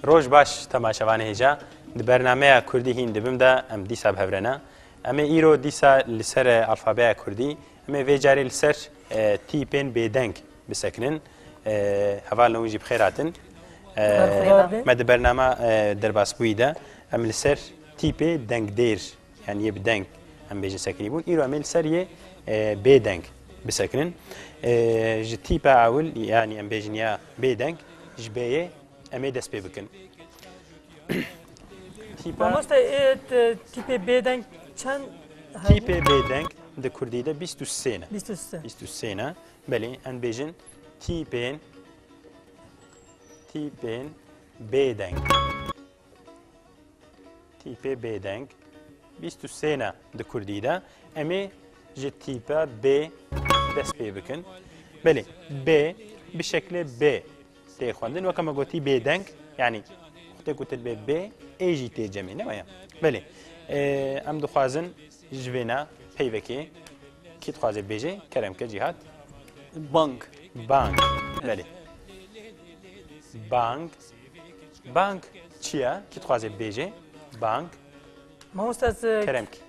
Roj baş temaşevanê hêja di bernameya Kurdî hîn dibim de em dîsa bi hevrena. Em ê îro dîsa li ser alfabeya Kurdî em ê vê carê li ser tîpên bêdeng Bisekinin. Hevalên wî jî bi xêr hatin. Me di bernama derbasbûyî de em li ser tîpê dengdêr yan yê bi deng em bêjin sekinî bûn. Îro em ê li ser yê bêdeng bisekinin. Ji tîpa ewil yanî em bêjin ya bêdeng ji bêyê em ê dest pê bikin. Mamoste ê tîpê bêdeng çend Tîpê bêdeng di Kurdî de 23 ne. 23 ne. Belê, em dibêjin tîpên, tîpên bêdeng. Tîpê bêdeng. Bîst û sê ne di Kurdî de. Em ê ji tîpe bê dest pê bikin. Belê, bê bi şeklê bê Tê xwendin weke me gotî bêdeng yanî xutê ku til bê bê ê jî tê cemê ne waya belê em dixwazin ji vêna peyvekê kî dixwazê bêjê keremke cîhat bang bang belê bang bang çiya kî dixwazê bêjê bang Mamosta keremke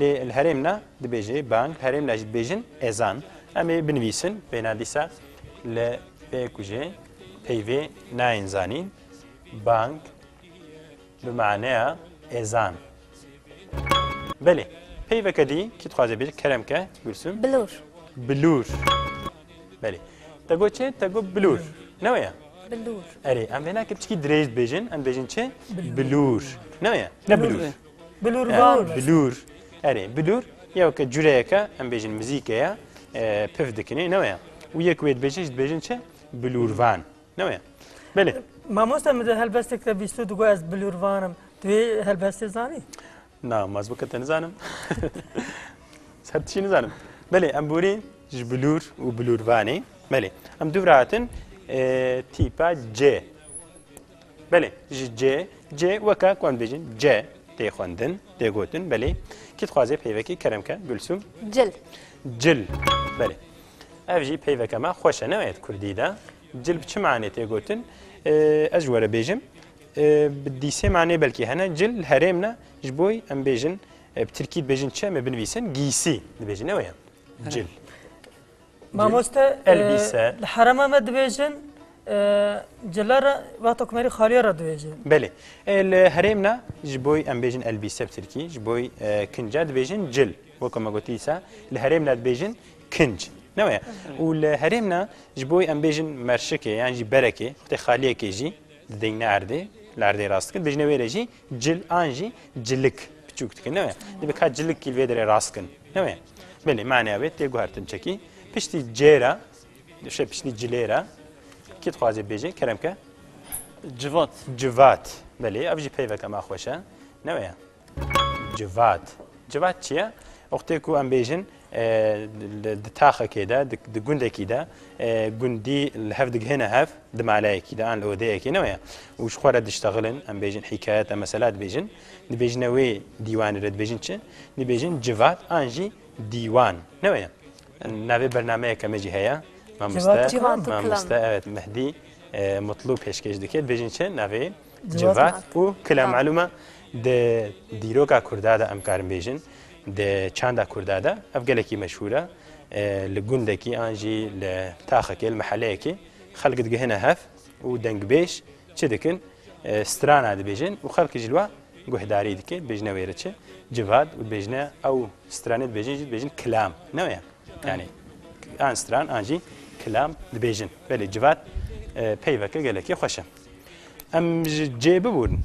Lê li herêm na dibêje bang, li herêm na jî dibêjin ezan. Em ê binivîsin bêhna dîsa li pê ku jê peyvê nayên zanîn bang bi maneya ezan. Belê. Peyveke dî kî dixwaze bêje kerem ke Gulsum? Bilûr. Bilûr. Belê. Te got çi? Te got bilûr. Ne wê ye? Bilûr. Erê em vêna kipçikî dirêj dibêjin, em dibêjin çi? Bilûr. Ne wê ye? Ne bilûr. Bilûrvan. Bilûr. Erê bilûr ya ke cureyeke em bêjin mizîke ya pif dikinê ne ya. Û yek wê dibêjin ji dibêjin çi? Bilûrvan. Ne ya. Belê. Mamosta min di helbestek de bîsto digo ez bilûrvan im. Tu wê helbestê zanî? Na, maz bike te nizanim. Ser tişî nizanim. Belê em borî ji bilûr û bilûrvanê. Belê. Em dûvra hatin tîpa C. Belê, ji cê, cê weke ku em dibêjin ce tê xwendin, tê gotin, belê. Kî dixwaze peyvekê kerem ke, Gulsum? Cil. Cil, belê. Ev jî peyveke me xweş e, ne wayet Kurdî de. Cil bi çi manê tê gotin? Ez ji were bêjim. Bi dîsê manê belkî hene. Cil li herêm ne, ji boî em bêjin bi tirkî dibêjin çi em ê binivîsin? Gîsî dibêjin, ne weye? Cil. Mamoste elbîse li herema me dibêjin cila re wexta kumerî xaliya re dibêjin. Belê li herêm ne ji boy em bêjin elbîse bi tirkî ji boy kinca dibêjin cil wek me gotî dîsa li herêm ne dibêjin kinc ne weye û li herêm ne ji boy em bêjin merşikê yan jî berekê xutê xaliyekê jî dideyne erdê li erdê rastkin dijne wê re jî Cil an jî cilik piçûk dikin ne divê ka cilik kîl vê derê rast kin ne wê belê maneya wê tê guhertin çekî piştî cêra dişe piştî cilê re kî dixwazê bêjê kerem ke civat civat belê ev jî peyveke me xweş e ne wê civat civat çi ye oxtê ku em bêjin Di taxekê de, di gundekî de gundî li hev digihêne hev, di maleyekî de an li odeyekê ne weye û ji xwe re diştexilin, em bêjin hîkayet em mesela dibêjin, dibêjine wê dîwanê re dibêjin çi? Dibêjin civat an jî dîwan ne weye. Navê bernameyeke me jî heye Mamoste Mamoste evet Mehdî Mutlu pêşkêş dike dibêjin çi navê? Civat û kila malûm e di dîroka Kurda de em karin bêjin di çanda Kurda de ev gelekî meşhûr e li gundekî an jî li taxekê li miheleyekê xelk digihine hev û dengbêj çi dikin strana dibêjin û xelk ji li we guhdarî dike dibêjine wê re çi civat û dibêjine ew stranê dibêjin jî dibêjin kilam ne wê yanî an stran an jî kilam dibêjin belê civat peyveke gelekî xweş e. Em ji cê bibûrin.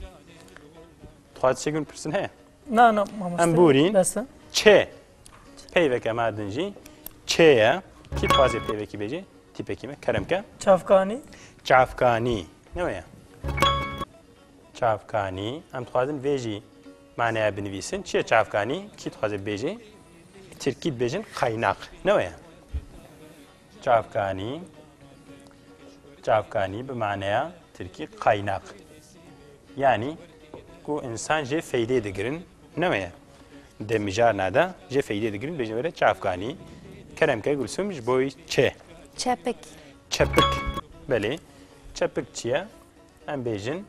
Dixwaz çêkir pirsin heye. Na na mamoste. Em bûrîn. Beste. Çê. Peyveke merdin jî çêye. Kî dixwazê peyvekî bêjê? Tîpekî me keremke. Çavkanî. Çavkanî. Ne weye? Çavkanî. Em dixwazin vê jî maneya binivîsin. Çiye çavkanî? Kî dixwazê bêjê? Tirkî dibêjin qaynak. Ne weye? Çavkanî, çavkanî bi maneya tirkî qaynak. Yanî ku însan jê feydê digirin neweye. Di mijarna de jê feydê digirin bêjin were çavkanî. Keremke Gulsum ji boî çi? Çepik. Çepik. Belê. Çepik çi ye? Em bêjin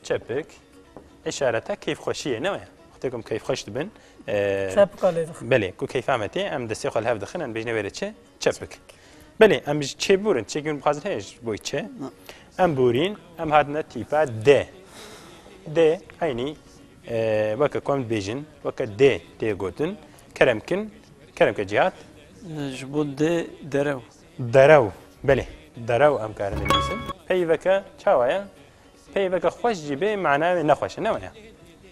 Çepik, işareta keyfxweşiyê ne waya. Xwetê ku em keyfxweş dibin. Çepika lê dixin. Belê, ku keyfa me tê, em destê xwe li hev dixin, em bêjine wê rê çi? Çepik. Belê, em ji çê bûrin, çê gûn bixwazin heye ji boî çi? Em bûrîn, em hatine tîpa D. D, eynî weke ku em dibêjin, weke D tê gotin, keremkin, keremke cîhat. Ji bo D derew. Derew, belê derew em karin binivîsin. Peyveke çawa ye? Peyveke xweş jî bê mana wê nexweş e ne waya?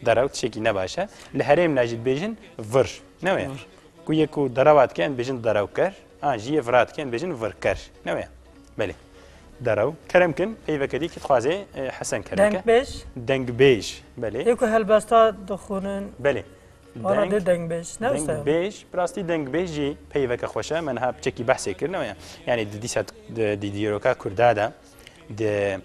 Derew tişekî ne baş e. Li herêm de jî dibêjin vir ne waya? Ku yê ku derewa dike em dibêjin derewker an jî yê vira dike em dibêjin virker ne waya? Belê. Derew kerem kin peyveke dî kî dixwazê hesen kerem ke. Dengbêj. Dengbêj belê. Yê ku helbesta dixwînin. Belê. Valla dê dengbêj. Ne wisa. Dengbêj, bi rastî dengbêj jî peyveke xweş e. Me niha piçekî behsê kir ne yanî di dîsa di dîroka Kurda de di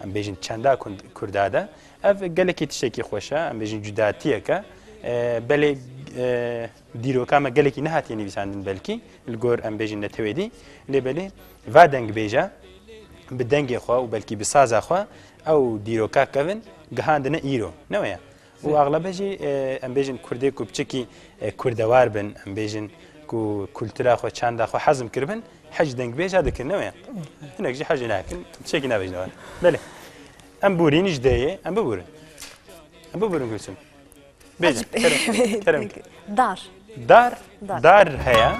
em bêjin çenda Kurda de ev gelekî tiştekî xweş e em bêjin cudatiyeke belê dîroka me gelekî nehatiye nivîsandin belkî li gor em bêjin netewêdî lê belê va dengbêje bi dengê xwe û belkî bi saza xwe ew dîroka kevin gihandine îro ne weye û exlebe jî em bêjin Kurdê ku biçikî Kurdewar bin em bêjin ku kultura xwe çanda xwe hezm kiribin hej dengbêja dikin ne wê hinek jî hejê nakin çekî nabêjin war belê em borîn ji deyê em biborin em biborin gulçin bêjin kerem dar dar dar heye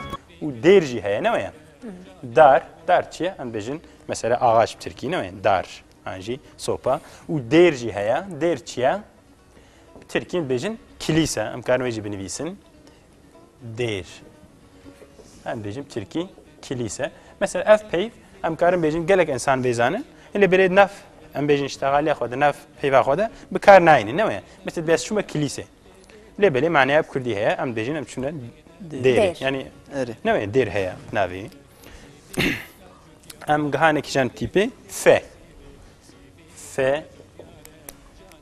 û dêr jî heye ne wê dar dar çiye em bêjin mesela ağaç bi tirkî ne wê dar an jî sopa û dêr jî heye dêr çiye bi tirkî bêjin kilîse em karin wê jî binivîsin dêr em bêjin tirkî kilîse mesela ev peyv em karin bêjin gelek insan bêzanin lê birê naf em bêjin iştexaliya xwe di nav peyva xwe de bi kar nayînî ne weye mesela dest çûme kilîse lê belê maneya bi kurdî heye em bêjin em çûne dêrê yanî ne weye dêr heye navê Em gihanekî jan tîpê F. F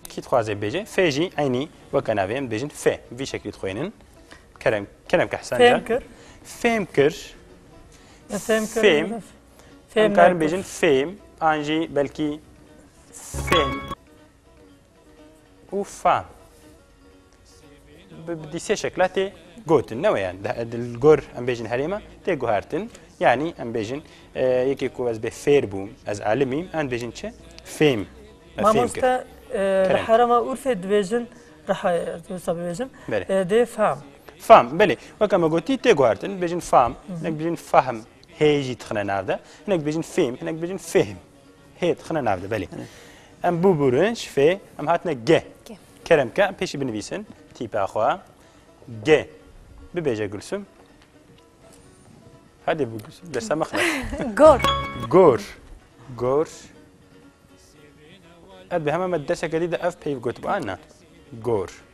kî dixwaze bêje F jî eynî weke navê em dibêjin F vî şeklî dixwînin kerem kerem ke hesen Fêm kir Fêm kir Fêm kir Fêm Fêm karin bêjin Fêm an jî belkî Fêm Ûfa. Bi di sê şekla tê gotin ne weyan li gor em bêjin herêma tê guhertin yanî em bêjin yekê ku ez bê fêr bûm ez alimîm em bêjin çi fêm Mamoste li herema Urfê dibêjin rehayê wisa bibêjin dê fam. Fam belê weka me gotî tê guhertin bêjin fam hinek bêjin fahm hê jî dixine nav de hinek bêjin fêm hinek bêjin fêhm. Hê dixine nav de belê. Em bû bûrinç fê em hatine ge. Kerem ke pêşî binivîsin tîpa xwe. Ge bibêje Gulsum. Hadi bu derse mıxla. Gor. Gor. Gor. Ev bi hemen derse gelî de ev peyv gotib anna. Gor.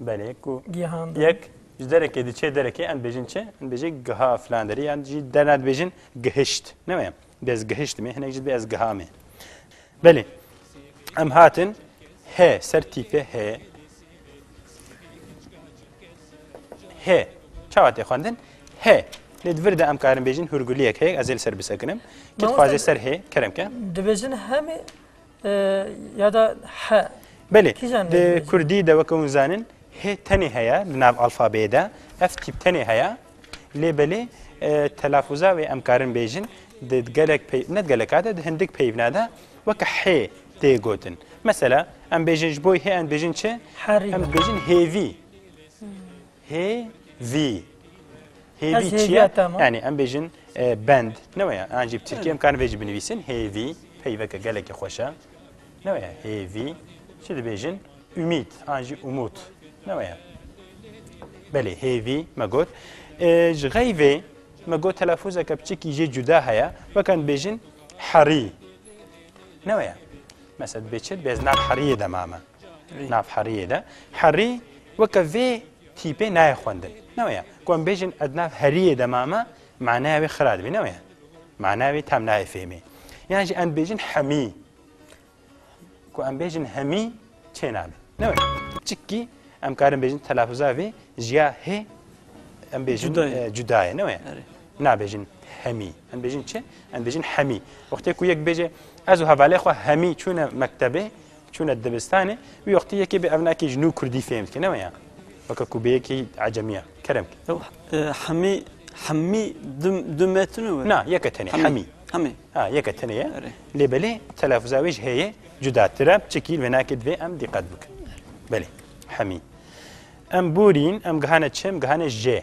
Belê ku Gihan yek ji derekê diçê derekê em bêjin çi? Em bêjê giha filan derê yan jî derna dibêjin gihişt. Ne me bez gihişt me hinek jî dibê ez giha me. Belê em hatin he ser tîpê he he çawa tê xwendin he lê di vir de em karin bêjin hûrguliyek heyek ez ê li ser bisekinim kit xwazê ser hê kerem ke dibêjin hemê ya da he. Belê di Kurdî de weke hûn zanin hê tenê heye di nav alfabeyê de ev tîp tenê heye lê belê telafuza wê em karin bêjin di gelek ne geleka de di hindik peyvna de weke hê tê gotin. Mesela em bêjin ji bo hê em bêjin çi em bêjin hêvî. Hêvî. Hêvî Ez çi hêviya ye? te me. Yanî em bêjin e, bend. Ne weye. An jî bi Tirkî em karin vê jî binivîsin. Hêvî. Peyveke gelekî xweş e. Ne weye. Hêvî. Çi dibêjin? Ümît. An jî umût. Ne weye. Belê hêvî me got. E, Ji xeyvê me got telafuzeke biçikî jê cuda heye. Weke em dibêjin herî. Ne weye. Mesela dibê çi? Dibê ez nav heriyê de mame. Nav heriyê de. Herî weke vê tîpê nayê xwendin. Ne weye. Ku em bêjin ez nav heriyê de mame maneya wê xira dibî ne weye. Maneya wê tam nayê fêmê. Yan jî em bêjin hemî. Ku em bêjin hemî çê nabe. Ne weye. Çikî em karin bêjin telafuza vê jiya hê em bêjin cudayê ne weye. Nabêjin hemî. Em bêjin çi? Em bêjin hemî. Wextê ku yek bêje ez û hevalê xwe hemî çûne mektebê Çûne dibistanê wî wextî yekê bi evnakî ji nû kurdî fêm dike ne waya weke ku bi yekî ecemiya kerem ki hemî hemî du metinu na yeke tenê hemî hemî ha yeke tenê ye lê belê telafza wê ji heye cudatir e çikî venakê divê em dîqet bikin belê hemî em borîn em gihane çim gihane jê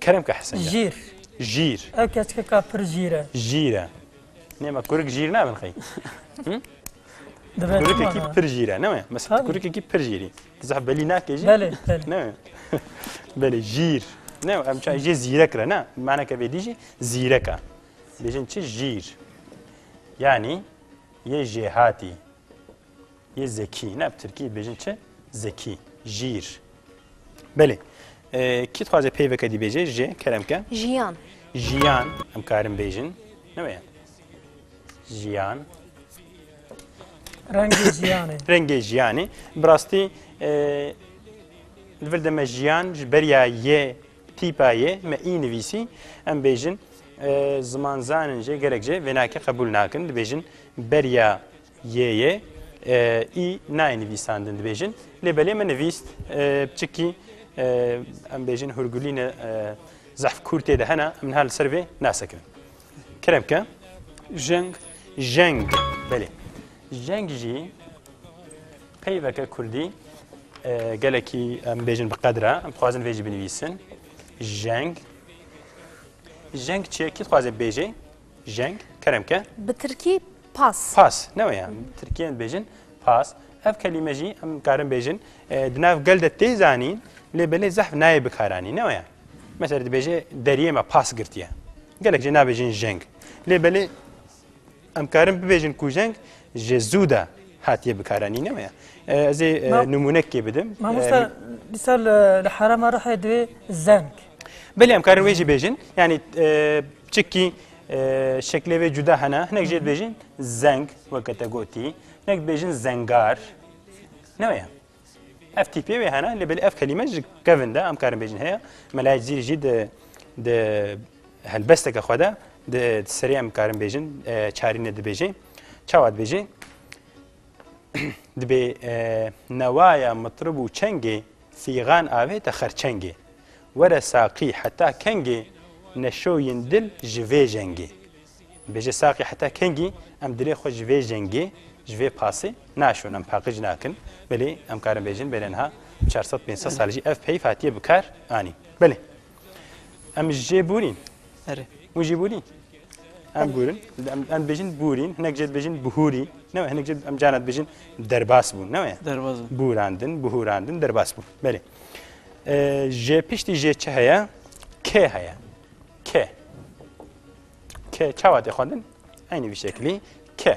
Kerem ke hesenge. Jîr. Jîr. Ew keçkeka pir jîr e. Jîr e. Nême kurik jîr nabin xey. Kurikekî pir jîr e neme. Mesela kurikekî pir jîrî. Zeh belî nake jî. Belê. Neme. Belê jîr. Ne em çay jê zîrek re ne. Maneke vê dî jî zîrek e. Bêjin çi jîr. Yani yê jêhatî. Yê zekî, ne bi tirkî dibêjin çi? Zekî, jîr. Belê. Kî dixwaze peyveke dîbêje ji keremke? Jiyan. Jiyan em karin bêjin. Ne weye? Jiyan. Rengê jiyanê. Rengê jiyanê. Bi rastî li vir de me jiyan ji beriya yê tîpa yê me î nivîsî em bêjin zimanzanin jê gelek jê vênake qebûl nakin dibêjin beriya Yê yê î nayê nivîsandin dibêjin lê belê min nivîst çikî em bêjin hurgulîne zehf kûrtê de hene min her li ser vê nasekirin. Kerem ke? Jeng. Jeng. Belê. Jeng jî peyveke kurdî gelekî em bêjin bi qedra em dixwazin vê jî binivîsin. Jeng. Jeng çiye kî dixwaze bêjê? Jeng, keremke. Bi tirkî pas. Pas, ne wê ya. Tirkiyên dibêjin pas. Ev kelîme jî em karin bêjin di nav gel de tê zanîn lê belê zehf nayê bikaranîn, ne wê ya. Mesela dibêje deriyê me pas girtiye. Gelek jê nabêjin jeng. Lê belê em karin bibêjin ku jeng ji zû de hatiye bikaranîn, ne wê ya. Ez ê nimûnekê bidim. Mamosta misal li herêma Rihê divê zeng. Belê em karin wê jî bêjin. Yanî Çikî şeklê vê cuda hene, hinek jê dibêjin zeng weke te gotî, hinek dibêjin zengar. Ne weye. Ev tîpê wê hene, lê belê ev kelîme ji kevin de em karin bêjin heye. Melayê Cizîrî jî di di helbesteke xwe de di serê em karin bêjin çarîne dibêjê. Çawa dibêjê? Dibê newaya mitrib û çengê fîgan avê te xerçengê. Were saqî heta kengê neşoyên dil ji vê jengê. Bêje saqî heta kengî em dilê xwe ji vê jengê, ji vê pasê naşon, em paqij nakin. Belê em karin bêjin belê niha çar sed pênc sed sal jî ev peyv hatiye bi kar anîn. Belê em ji jê bûrîn. Erê. Hûn jî bûrîn. Em bûrin, em, em dibêjin bûrîn, hinek jê dibêjin bihûrî, ne we hinek jê em cana dibêjin derbas bûn, ne we? Derbas bûn. Bûrandin, bihûrandin, derbas bûn. Belê. Jê piştî jê çi heye? Kê heye. Kê. Kê çawa tê xwendin? Eynî vî şeklî kê.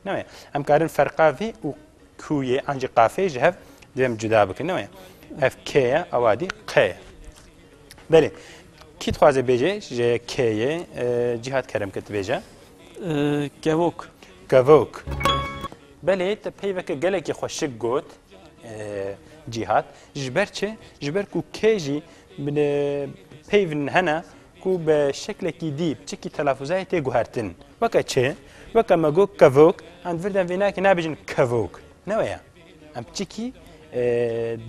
Newê. Em karin ferqa vî û kûyê an jî qafê ji hev divêm cuda bikin. Newê. Ev kê ye, ewa dî qê ye. Belê. Kî dixwaze bêje ji kê ye cîhat kerem kir dibêje? Kevok. Kevok. Belê te peyveke gelekî xwe şik got Cîhat. Ji ber çi? Ji ber ku kê jî peyv hene ku bi şeklekî dî çikî telafuzayê tê guhertin. Weke çi? Weke me got kevok, em vir dem vênakê nabêjin kevok. Neweya. Em çikî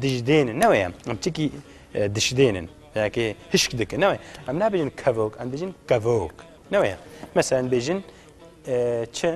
dijdênin. Neweya. Em çikî dişidênin. Belki hişk dikin. Neweya. Em nabêjin kevok, em dêjin kevok. Neweya. Mesela em bêjin çi?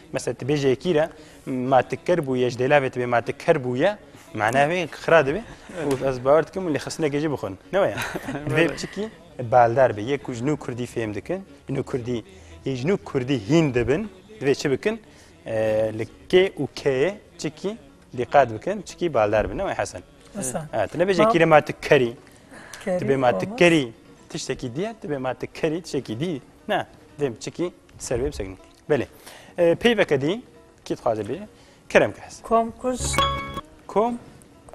Mesela tu bêjê yekî re ma tu ker bûye ji dêlavê tibê ma tu ker bûye manaya wê xira dibê û ez bawer dikim û lê xistinekê jî bixwin ne waya divê biçikî baldar be yek ku ji nû kurdî fêm dikin ji nû kurdî yê ji nû kurdî hîn dibin divê çi bikin li kê û keyê çikî dîqat bikin çikî baldar bin ne waya hesen tu ne bêjê kîre ma tu kerî tu bê ma tu kerî tiştekî diye tu bê ma tu kerî tiştekî dî ne divê biçikî ser wê bisekî Belê. Peyveke dî kî dixwaze bê kerem ke hez. Kom kuş. Kom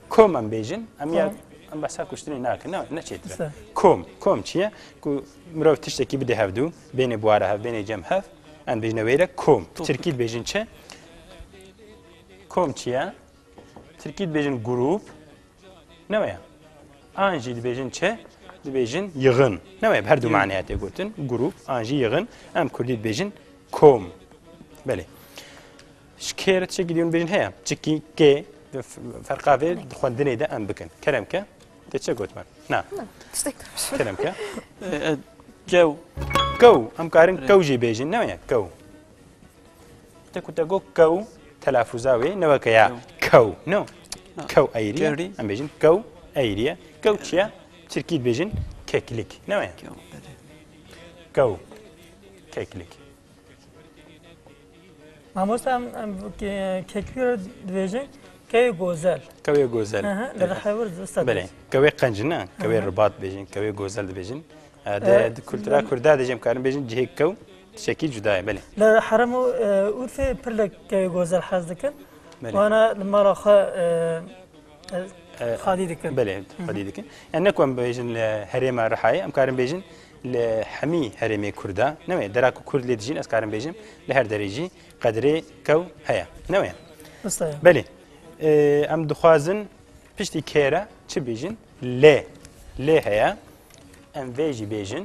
kom em bêjin em ya em behsa kuştinê nakin ne neçêtire. Kom kom çi ye ku mirov tiştekî bidê hevdû bênê buwara hev bênê cem hev em bêjine wêre kom. Tirkî dibêjin çi? Kom çi ye? Tirkî dibêjin grûp, ne waya? An jî dibêjin çi? Dibêjin yixin. Ne waya? Bi her du maneya tê gotin. Grûp, an jî yixin. Em kurdî dibêjin kom. Belê. Ji kê re tişekî dîyon dibêjin heye. Çikî kê ferqa vê di xwendinê de em bikin. Kerem ke? Te çi got me? Na. Kerem ke? Kew. Kew. Em karin kew jî bêjin. Ne waya? Kew. Te ku te got kew telafûza wê ne weke ya kew no kew eyrî ye em bêjin kew eyrî ye kew çi ye tirkî dibêjin keklik ne weye kew keklik Mamosta em kekliyo dibêjin kewê gozel kewê gozel li rihewir dibista belê kewê qenc ne kewê ribat dibêjin kewê gozel dibêjin di kultura kurda dê jê em karin bêjin cihê kew Tişekî cuda ye belê. Li herem û Urfê pir li kevê Gozer hez dikin. Wana li mala xwe xalî dikin. Belê xalî dikin. Yani ne ku em bêjin li herêma Rihayê em karin bêjin li hemî herêmê Kurd e. Ne wê dera ku Kurd lê dijîn ez karin bêjim li her derê jî qedrê kew heye. Ne wê. Belê. Em dixwazin piştî kêre çi bêjin? Lê. Lê heye. Em vê jî bêjin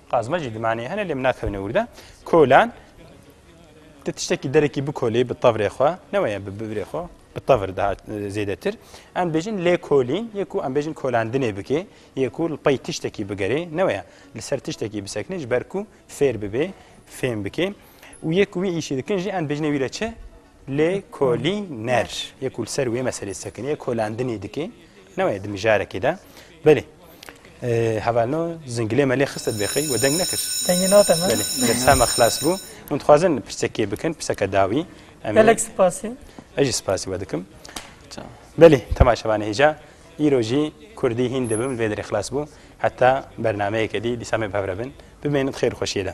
Qazma jî dimanê hene lê min nakevne wir de. Kolan te tiştekî derekî bikolî bi tevrê xwe neweye bi birê xwe bi tevr daha zêdetir. Em dibêjin lê kolîn yê ku em bêjin kolandinê bikê yê ku li pey tiştekî bigerê neweye li ser tiştekî bisekinê ji ber ku fêr bibê fêm bikê û yê ku wî îşî dikin jî em dibêjinê wî re çi Lê kolî ner yê ku li ser wê meselê sekinî yê kolandinî dikê ne wê di mijarekê de belê hevalno zingilê me lê xiste bêxey we deng nekir dengê nate me desta me xilas bû hûn dixwazin pirsekê bikin pirseke dawî em gelek spasî ez jî spasî we dikim belê temaşevanê hêja îro jî kurdî hîn dibim vê derê xilas bû heta bernameyeke dî dîsa me bi hev re bin bimênin xêr xweşiyê de